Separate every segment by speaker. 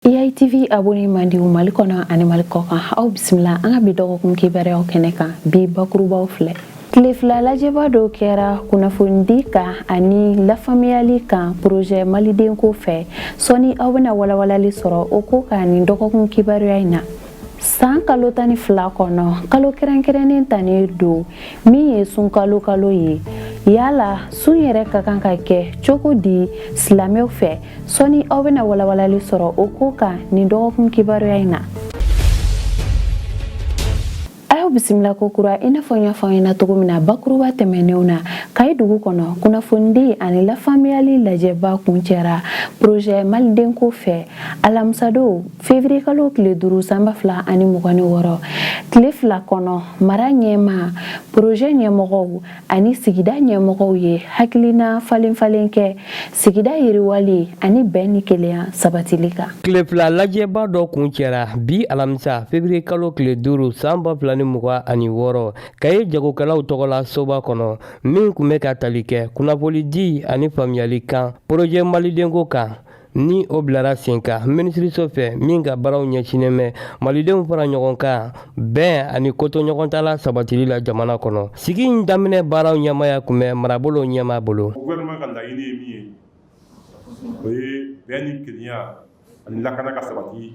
Speaker 1: EITV abonné mandiw mali kɔnɔ ani mali kɔkan aw bisimila an ka bi dɔgɔkun kibaruyaw kɛnɛ kan bi bakurubaw filɛ tile fila lajɛba dɔ kɛra kunnafonidi kan ani lafamuyali kan porozɛ malidenko fɛ sɔni aw bɛna walawalali sɔrɔ o ko kan nin dɔgɔkun kibaruya in na san kalo tan ni fila kɔnɔ kalo kɛrɛnkɛrɛnnen tannen don min ye sunkalo kalo ye yala sun yɛrɛ ka kan ka kɛ cogo di silamɛw fɛ sɔni aw bɛna walawalali sɔrɔ o ko kan nin dɔgɔkun kibaruya in na aw bisimila kokura i n'a fɔ n y'a f'aw ɲɛna cogo min na bakuruba tɛmɛnenw na kayi dugu kɔnɔ kunnafonidi ani lafaamuyali lajɛba kuncɛra porozɛ malidenko fɛ alamisadon fevriye kalo tile duuru san ba fila ani mugan ni wɔɔrɔ tile fila kɔnɔ mara ɲɛma porozɛ ɲɛmɔgɔw ani sigida ɲɛmɔgɔw ye hakilina falenfalen kɛ sigida yiriwali ani bɛn ni kelenya sabatili kan tile fila lajɛba dɔ kuncɛra bi alamisa febiriye kalo tile duuru san ba fila ni mugan ani wɔɔrɔ kayi jagokɛlaw tɔgɔ la soba kɔnɔ min kun bɛ ka tali kɛ kunnafolidi ani faamuyali kan porojɛ malidenko kan ni o bilara sen kan minisiriso fɛ min ka baaraw ɲɛsinnen bɛ malidenw fara ɲɔgɔn kan bɛn ani kotoɲɔgɔntala sabatili la jamana kɔnɔ sigi in daminɛ baaraw ɲɛmaya tun bɛ marabolo ɲɛma bolo ka laɲini ye min ye o ye bɛn ni kelenya ani lakana ka sabati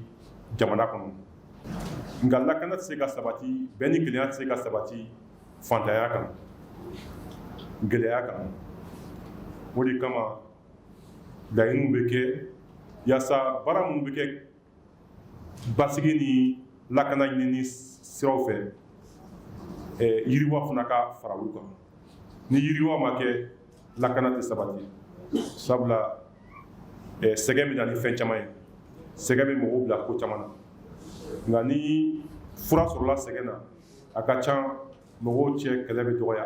Speaker 1: jamana kɔnɔ nka lakana tɛ se ka sabati bɛn ni kelenya tɛ se ka sabati fantanya kan gɛlɛya kan o de kama laɲiniw bɛ kɛ yaasa baara minnu bɛ kɛ basigi ni lakana ɲinini siraw fɛ eh, yiriwa fana ka fara olu kan ni yiriwa ma kɛ lakana tɛ sabati sabula eh, sɛgɛn bɛ na ni fɛn caman ye sɛgɛn bɛ mɔgɔw bila ko caman na nka ni fura sɔrɔla sɛgɛn na a ka can mɔgɔw cɛ kɛlɛ bɛ dɔgɔya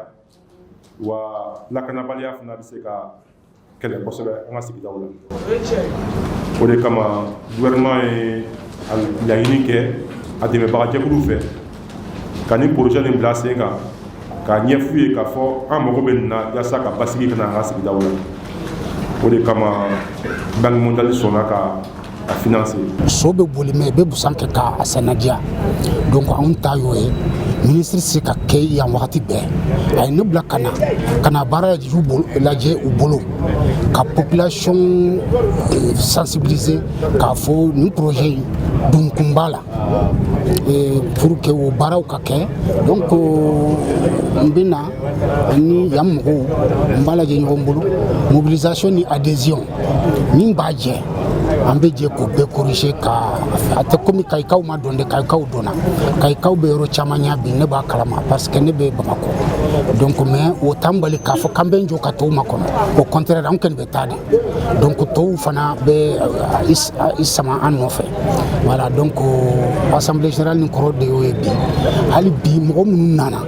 Speaker 1: wa lakanabaliya fana bɛ se ka kɛlɛ kosɛbɛ an ka sigidaw la o de kama gouvernement ye laɲini kɛ a dɛmɛbaga jɛkuluw fɛ ka nin projet nin bila sen kan k'a ɲɛf'u ye k'a fɔ an mago bɛ nin na yaasa ka basigi ka na an ka sigidaw la o de kama banque mondiale sɔnna ka a financer so bɛ boli maa bɛ busan kɛ ka a senna diya donc anw ta y'o ye ministre tɛ se ka kɛ yan wagati bɛɛ a ye ne bila ka na ka na baara lajɛ u bolo ka population euh, sensibiliser k'a fɔ nin projet in dun kun b'a la pour que o baaraw ka kɛ donc n bɛ na ni yan mɔgɔw n b'a lajɛ ɲɔgɔn bolo mobilisation ni adhésion min b'a jɛ an bɛ jɛ k'o bɛɛ korize ka a tɛ komi kayikaw ma dɔn dɛ kayikaw dɔnna kayikaw bɛ yɔrɔ caman yan bi ne b'a kalama parce que ne bɛ bamakɔ donc mais o t'an bali k'a fɔ k'an bɛ jɔ ka tɔw makɔnɔ au contraire an kɔni bɛ taa de donc tɔw fana bɛ euh, i sama an nɔfɛ voilà donc assemblée générale nin kɔrɔ de y'o ye bi hali bi mɔgɔ minnu nana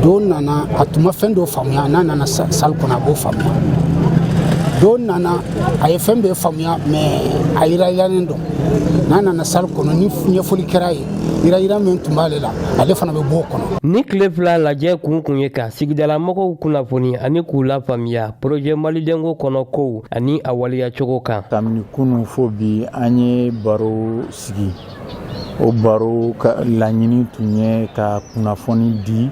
Speaker 1: dɔ nana a tun ma fɛn dɔ faamuya n'a nana sali kɔnɔ a b'o faamuya dɔ nana a ye fɛn bɛɛ faamuya mɛ a yiranyirannen don n'a nana sali kɔnɔ ni ɲɛfɔli kɛra ye yiranyiran min tun b'ale la ale fana bɛ b'o kɔnɔ nin tile fila lajɛ kun tun ye ka sigidalamɔgɔw kunnafoni ani k'u lafaamuya porojɛ malidenko kɔnɔ kow ani a waleyacogo kan kabini kunun fo bi an ye baro sigi o baro ka laɲini tun ye ka kunnafoni di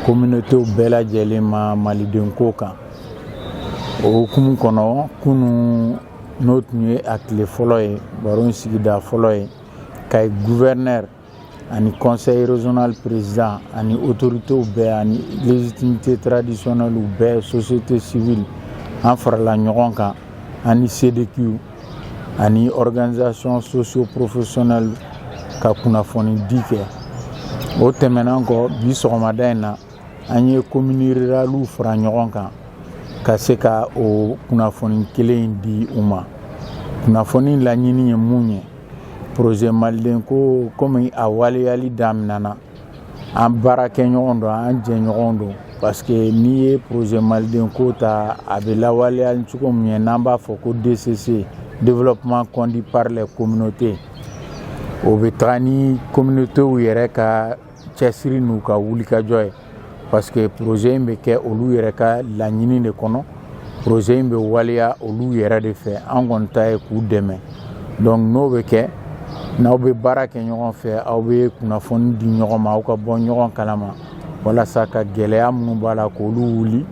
Speaker 1: communautéw bɛɛ lajɛlen ma malidenko kan o hukumu kɔnɔ kunun n'o tun ye a tile fɔlɔ ye baro in sigida fɔlɔ ye kayi gouverneur ani conseil régional président ani autoritéw bɛɛ ani légitimité traditionnelle bɛɛ société civile an farala ɲɔgɔn kan ani CDQw ani organisation socio professionnelle ka kunnafoni di kɛ o tɛmɛnen kɔ bi sɔgɔmada in na an ye commune ruraliw fara ɲɔgɔn kan ka se ka o kunnafoni kelen in di u ma kunnafoni laɲini ye mun ye projet malidenko komi a waleyali daminɛna an baarakɛɲɔgɔn don an jɛɲɔgɔn don parce que n'i ye projet malidenko ta a bɛ lawaleya cogo min ye n'an b'a fɔ ko DCC développement conduit par les communautés o bɛ taga ni communautés yɛrɛ ka cɛsiri n'u ka wulikajɔ ye parce que projet in bɛ kɛ olu yɛrɛ ka laɲini de kɔnɔ proze in bɛ waleya olu yɛrɛ de fɛ an kɔni ta ye k'u dɛmɛ donc n'o bɛ kɛ n'aw bɛ baara kɛ ɲɔgɔn fɛ aw bɛ kunnafoni di ɲɔgɔn ma aw ka bɔ ɲɔgɔn kalama walasa ka gɛlɛya minnu b'a la k'olu wuli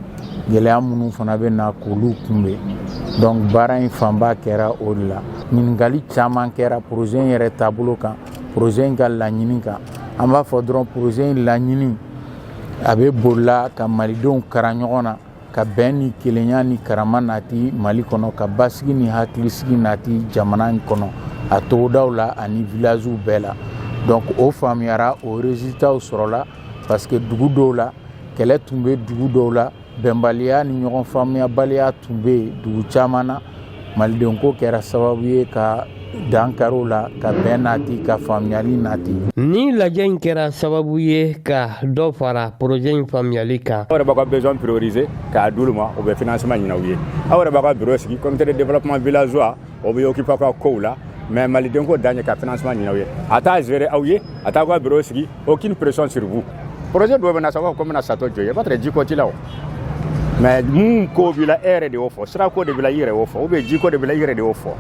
Speaker 1: gɛlɛya minnu fana bɛ na k'olu kunbɛn donc baara in fanba kɛra o de la ɲininkali caman kɛra proze in yɛrɛ taabolo kan proze in ka laɲini kan an b'a fɔ dɔrɔn proze in laɲini a bɛ boli la ka malidenw kara ɲɔgɔn na ka bɛn ni kelenya ni karama nati mali kɔnɔ ka basigi ni hakilisigi nati jamana in kɔnɔ a togodaw la ani vilaziw bɛɛ la donc o faamuyara o resultatw sɔrɔla parce que dugu dɔw la kɛlɛ tun bɛ dugu dɔw la bɛnbaliya ni ɲɔgɔn faamuyabaliya tun bɛ dugu caman na malidenko kɛra sababu ye ka dan kari u la ka bɛn nati ka faamuyali nati ni lajɛ in kɛra sababu ye ka dɔ fara porojɛ in faamuyali kan aw yɛrɛ b'a ka besoin prioriser k'a d'olu ma o bɛ financement ɲini aw ye aw yɛrɛ b'a ka bureau sigi comité de développement villageois o bɛ occuper a ka kow la mais malidenko dan ye ka financement ɲini aw ye a t'a gérer aw ye a t'a ka bureau sigi aucune pression sur vous projet dɔ bɛ na sa k'u bɛna château jɔ i ye ba tɛ jiko t'i la o mais mun ko b'i la e yɛrɛ de y'o fɔ sirako de b'i la i yɛrɛ y'o fɔ ou bien jiko de b'i la i yɛrɛ de y'o fɔ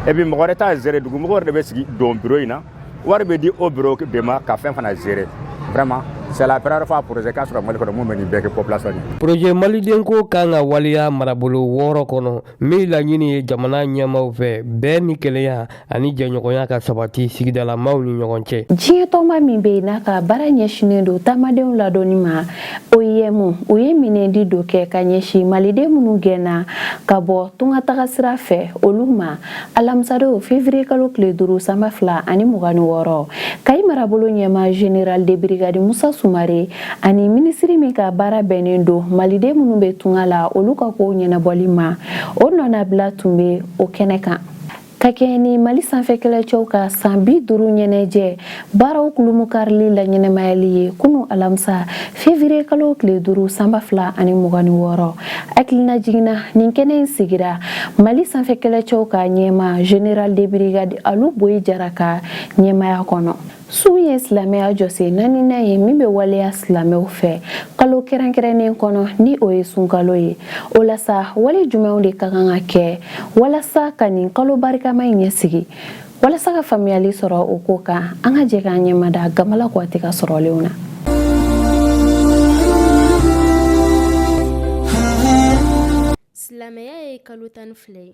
Speaker 1: et puis mɔgɔ wɛrɛ t'a gérer dugu mɔgɔ yɛrɛ de bɛ sigi don bureau in na wari bɛ di o bureau de ma ka fɛn fana gérer vraiment c'est la première fois projet ka sɔrɔ mali kɔnɔ mun bɛ nin bɛɛ kɛ population ye projet malidenko ka kan ka waleya marabolo wɔɔrɔ kɔnɔ Min laɲini ye jamana ɲɛmaaw fɛ bɛn ni kelenya ani jɛɲɔgɔnya ka sabati sigidalamaw ni ɲɔgɔn cɛ diɲɛtɔnba min bɛ yen n'a ka baara ɲɛsinnen don taamadenw ladɔnni ma oim u ye minɛndi dɔ kɛ ka ɲɛsin maliden minnu gɛnna ka bɔ tungataga sira fɛ olu ma alamisadon fevrier kalo tile duuru sanba fila ani mugan ni wɔɔrɔ kayi marabolo ɲɛmaa general de brigade musa sumare ani minisiri min ka baara bɛnnen don maliden minnu bɛ tunga la olu ka kow ɲɛnabɔli ma o nɔnabila tun bɛ o kɛnɛ kan ka kɛɲɛ ni mali sanfɛ kɛlɛcɛw ka san bi duuru ɲɛnajɛ baaraw kulumukarili laɲɛnamayali ye kunu alamisa fevriye kalo tile duuru sanba fila ani mugan ni wɔɔrɔ hakilinajigin na nin kɛnɛ in sigira mali sanfɛ kɛlɛcɛw ka ɲɛmaa general de brigade alu boyi jara ka ɲɛmaaya kɔnɔ Sun ye silamɛya jɔsen naaninan ye min bɛ waleya silamɛw fɛ kalo kɛrɛnkɛrɛnnen kɔnɔ ni o ye sunkalo ye o la sa wale jumɛnw de ka kan ka kɛ walasa ka nin kalo barikama in ɲɛsigi walasa ka faamuyali sɔrɔ o ko kan an ka jɛ k'an ɲɛmada gamala kɔti ka sɔrɔlenw na silamɛya ye kalo tan ni fila ye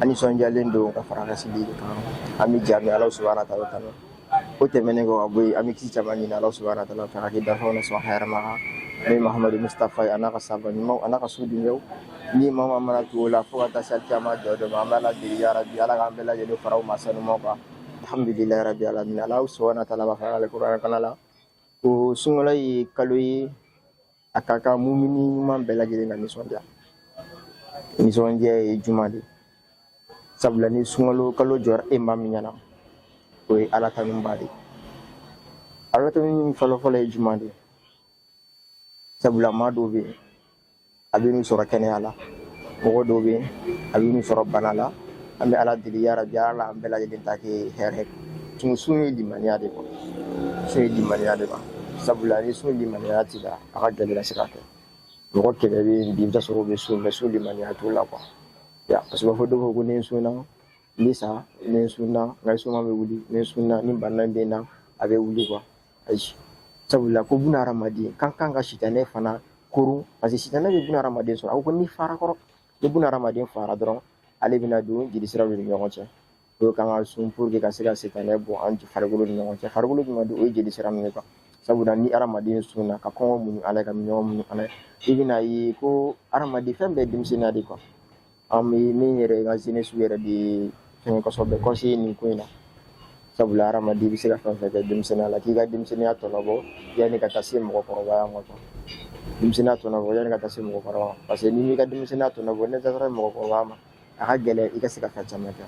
Speaker 1: an nisɔndiyalen don ka fara an ka seli de kan an bɛ jɛ an bɛ Alahu subahana wataala tanu o tɛmɛnen kɔ ka bɔ yen an bɛ kisi caman ɲini Alahu subahana wataala fɛ a ka kɛ danfɛnw na sɔn hɛrɛma kan n'o ye Mahamadu Musitafa ye a n'a ka sahaba ɲumanw a n'a ka so dunkew ni maa o maa mana tugu o la fo ka taa se alikiyama jɔ don ma an bɛ Ala deli yarabi Ala k'an bɛɛ lajɛlen fara o maa sanumaw kan alhamdulilayi rabi alamina Alahu subahana wataala b'a fɔ an ka alikuranɛ kalan la ko sunkalo ye kalo ye a ka kan mumini ɲuman bɛɛ lajɛlen ka nisɔndiya nisɔndiya ye jumɛn de sabula ni sunkalo kalo jɔra e maa min ɲɛ na o ye ala tanuba de ye ala tanu fɔlɔfɔlɔ ye jumɛn de ye sabula maa dɔw bɛ yen a bɛ n'u sɔrɔ kɛnɛya la mɔgɔ dɔw bɛ yen a bɛ n'u sɔrɔ bana la an bɛ ala deli yarabi ala an bɛɛ lajɛlen ta kɛ hɛrɛ tun sun ye limaniya de kɔ sun ye limaniya de kan sabula ni sun limaniya t'i la a ka gɛlɛn i ka se k'a kɛ mɔgɔ caman bɛ yen bi i bɛ t'a sɔrɔ u bɛ sun mais sun limaniya t'u la kuwa ya parce que u b'a fɔ dɔw ko ko ni n sunna n bɛ sa ni n sunna n ka suma bɛ wuli ni n sunna ni bana bɛ n na a bɛ wuli kuwa ayi sabula ko buna hadamaden ka kan ka sitanɛ fana koron parce que sitanɛ bɛ buna hadamaden sɔrɔ a ko ko n'i fara kɔrɔ ni buna hadamaden fara dɔrɔn ale bɛna don jelisiraw de ni ɲɔgɔn cɛ o ye kan ka sun pour que ka se ka sitanɛ bɔ an farikolo ni ɲɔgɔn cɛ farikolo dun ka di o ye jelisira min ye kuwa sabula ni hadamaden sunna ka kɔngɔ muɲu ala ye ka minnɔgɔ muɲu ala ye i bɛn'a ye ko hadamaden fɛn bɛɛ denmisɛnninya de kuwa an bɛ min wele ko jeunesse yɛrɛ de ye fɛn kosɛbɛ bɛ conseiller nin ko in na sabula hadamaden i bɛ se ka fɛn fɛn kɛ denmisɛnninya la k'i ka denmisɛnninya tɔnɔbɔ yanni ka taa se mɔgɔkɔrɔbaya ma kuwa denmisɛnninya tɔnɔbɔ yanni ka taa se mɔgɔkɔrɔba ma parce que n'i m'i ka denmisɛnninya tɔnɔbɔ n'i taara mɔgɔkɔrɔba ma a ka gɛlɛn i ka se ka fɛn caman kɛ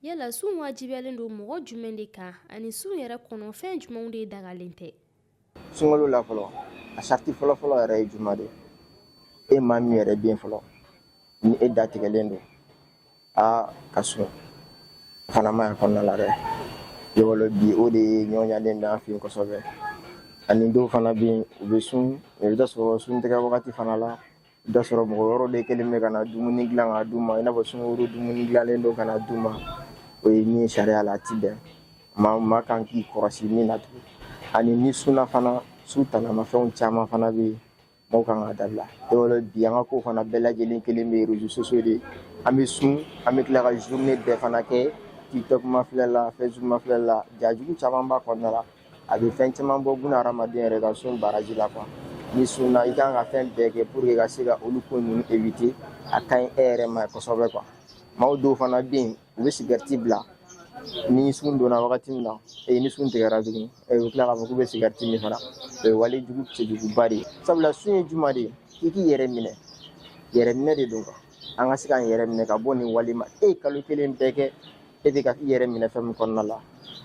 Speaker 1: yala sun wajibiyalen don mɔgɔ jumɛn de kan ani sun yɛrɛ kɔnɔ fɛn jumɛnw de dagalen tɛ sunkalo la fɔlɔ a sariti fɔlɔfɔlɔ yɛrɛ ye juma de ye maa min yɛrɛ bɛ yen fɔlɔ ni e datigɛlen don aa ka sun fana ma y'a kɔnɔna la dɛ yɔrɔ bi o de ye nɔgɔyalen bɛ an fɛ yen kosɛbɛ ani dɔw fana bɛ yen u bɛ sun i bɛ t'a sɔrɔ sun tigɛ wagati fana la I bɛ t'a sɔrɔ mɔgɔ wɛrɛw de kɛlen bɛ ka na dumuni dilan ka d'u ma i n'a fɔ sungurun dumuni dilannen don ka na d'u ma o ye min ye sariya la a tɛ bɛn maa maa kan k'i kɔlɔsi min na tugun ani n'i sunna fana sun tanamafɛnw caman fana bɛ yen mɔgɔw kan ka dabila i b'a dɔn bi an ka ko fana bɛɛ lajɛlen kɛlen bɛ réseaux sociaux de ye an bɛ sun an bɛ tila ka journée bɛɛ fana kɛ tiktok mafilɛ la facebook mafilɛ la ja jugu caman b'a kɔnɔna la a bɛ fɛn caman bɔ buna hadamaden yɛrɛ ka sun baraji la kuwa n'i sunna i kan ka fɛn bɛɛ kɛ pour que ka se ka olu ko ninnu éviter a ka ɲi e yɛrɛ ma kosɛbɛ kuwa maaw dɔw fana bɛ yen u bɛ sigɛriti bila ni sun donna wagati min na ee ni sun tigɛra tuguni ee u bɛ tila k'a fɔ k'u bɛ sigɛriti min fana o ye wale jugu cɛjuguba de ye sabula sun ye juma de ye i k'i yɛrɛ minɛ yɛrɛminɛ de don kuwa an ka se k'an yɛrɛ minɛ ka bɔ nin wale ma e ye kalo kelen bɛɛ kɛ e bɛ ka i yɛrɛ minɛ fɛn min kɔnɔna la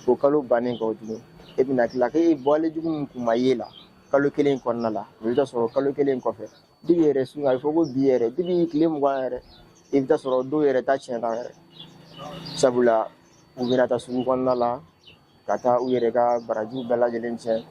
Speaker 1: o kalo bannen kɔ tuguni e bɛna tila ka wale jugu min kun ma ye la kalo kelen kɔnɔna la i bɛ t'a sɔrɔ kalo kelen kɔfɛ dibi yɛrɛ sun a bɛ fɔ ko bi yɛrɛ dibi tile mugan yɛrɛ i bɛ t'a sɔrɔ dɔw yɛrɛ ta tiɲɛna yɛrɛ sabula u bɛna taa sugu kɔnɔna la ka taa u yɛrɛ ka barajiw bɛɛ lajɛlen cɛn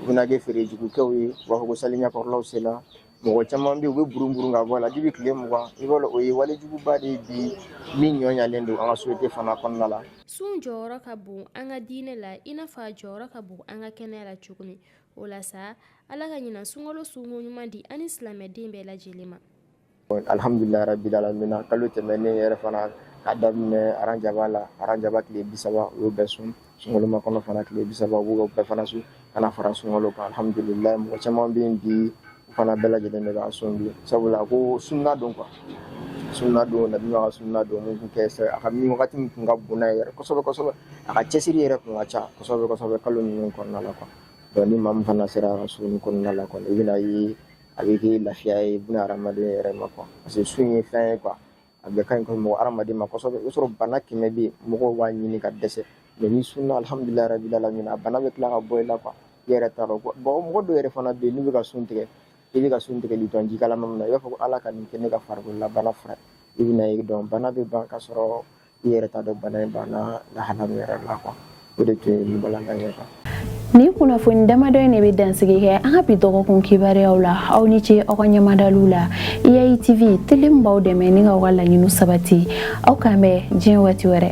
Speaker 1: u bɛna kɛ feere jugukɛw ye u b'a fɔ ko seli ɲɛkɔrɔlaw sela mɔgɔ caman bɛ yen u bɛ burun-burun ka bɔ a la dibi tile mugan i b'a dɔn o ye walejuguba de ye bi min nɔgɔyalen don an ka société fana kɔnɔna la sun jɔyɔrɔ ka bon an ka diinɛ la i n'a fɔ a jɔyɔrɔ ka bon an ka kɛnɛya la cogo min o la sa ala ka ɲinan sunkalo sunko ɲuman di an ni silamɛden bɛɛ lajɛlen ma Alihamdulila rabi alamin kalo tɛmɛnen yɛrɛ fana k'a daminɛ arajaba la arajaba tile bisaba o bɛ sun sunmakɔnɔ fana tile bisaba bɛɛ fana sun ka na fara sun alihamdulila mɔgɔ caman bɛ bi fana bɛɛ lajɛlen bɛ ka sun bi sabula a ko sunna don kuwa sunna don ka sunna don a ka min wagati tun ka bon yɛrɛ kosɛbɛ a ka cɛsiri yɛrɛ tun ka casɔ kalo ninnu kɔnɔna la kuwa dɔn ni maa min fana sera ka sun kɔnɔna la i bɛna ye a bɛ kɛ lafiya ye buna hadamaden yɛrɛ ma kuwa parce que sun ye fɛn ye kuwa a bɛ ka ɲi kɔni mɔgɔ hadamaden ma kosɛbɛ i bɛ sɔrɔ bana kɛmɛ bɛ yen mɔgɔw b'a ɲini ka dɛsɛ mɛ n'i sunna alihamudulila rabi alamin a bana bɛ tila ka bɔ i la kuwa i yɛrɛ t'a dɔn bɔn mɔgɔ dɔw yɛrɛ fana bɛ yen n'u bɛ ka sun tigɛ i bɛ ka sun tigɛli dɔn ji kalaman min na i b'a fɔ ko ala ka nin kɛ ne ka farikololabana fura i bɛna ye dɔn bana bɛ ban ka sɔrɔ i yɛrɛ t'a dɔn bana in banna lahala min yɛrɛ la kuwa o de tun ye nin balanta ye kan nin kunnafoni damadɔ in de bɛ dansigi kɛ an ka bi dɔgɔkun kibaruyaw la aw ni ce aw ka ɲɛmadaliw la iai tv tele min b'aw dɛmɛ ni ka aw ka laɲiniw sabati aw k'an bɛn diɲɛ waati wɛrɛ